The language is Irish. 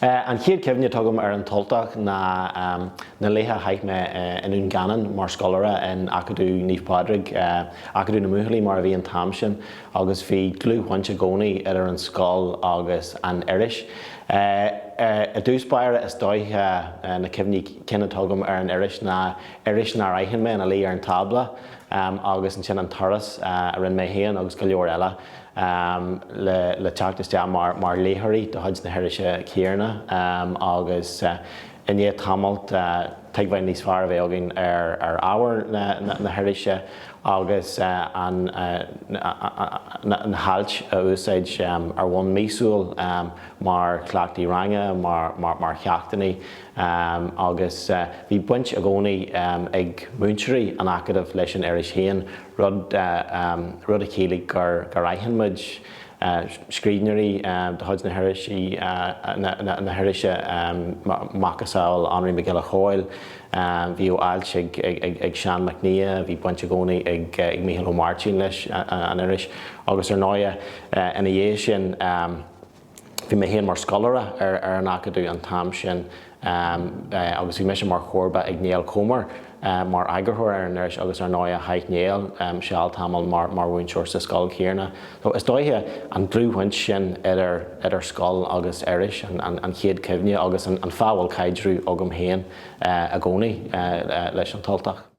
An chéad cuimhne atá agam ar An tUltach ná na laetha a chaith mé i nDún Geanainn mar scoláire in Acadamh Naomh Pádraig, Acadamh na mBuachaillí mar a bhí an t-am sin, agus bhí dlúthbhaint i gcónaí idir an scoil agus an iris. I dtús báire is dóiche na cuimhní cinn atá agam ar an iris ná iris nár aithin mé ina luí ar an tábla agus ansin an turas a rinne mé féin agus go leor eile, le teacht isteach mar léitheoirí de chuid na hirise chéanna agus i ndiaidh tamaill tuigbheáil níos fearr a bheith againn ar ábhar na hirise agus na hailt a úsáid ar bhonn míosúil mar chleachtaí ranga, mar cheachtannaí agus bhí baint i gcónaí ag múinteoirí an Acadaimh leis an iris féin rud a chiallaigh gur aithin muid scríbhneoirí de chuid na hirise macasamhail Anraí Mac Giolla Chomhaill, bhíodh ailt ag Seán Mac Nia, bhí baint i gcónaí ag Mícheál Ó Máirtín leis an iris, agus ar ndóighe ina dhiaidh sin, Bhí mé féin mar scoláire ar an Acadamh an t-am sin agus bhí mise mar chomharba ag Néill Comer mar eagarthóir ar an iris agus ar ndóighe chaith Néill seal tamall mar mhúinteoir sa scoil chéanna. So is dóiche an dlúthbhaint sin idir scoil agus iris an chéad cuimhne agus an fáth a bhfuil caidreamh agam féin i gcónaí leis An tUltach.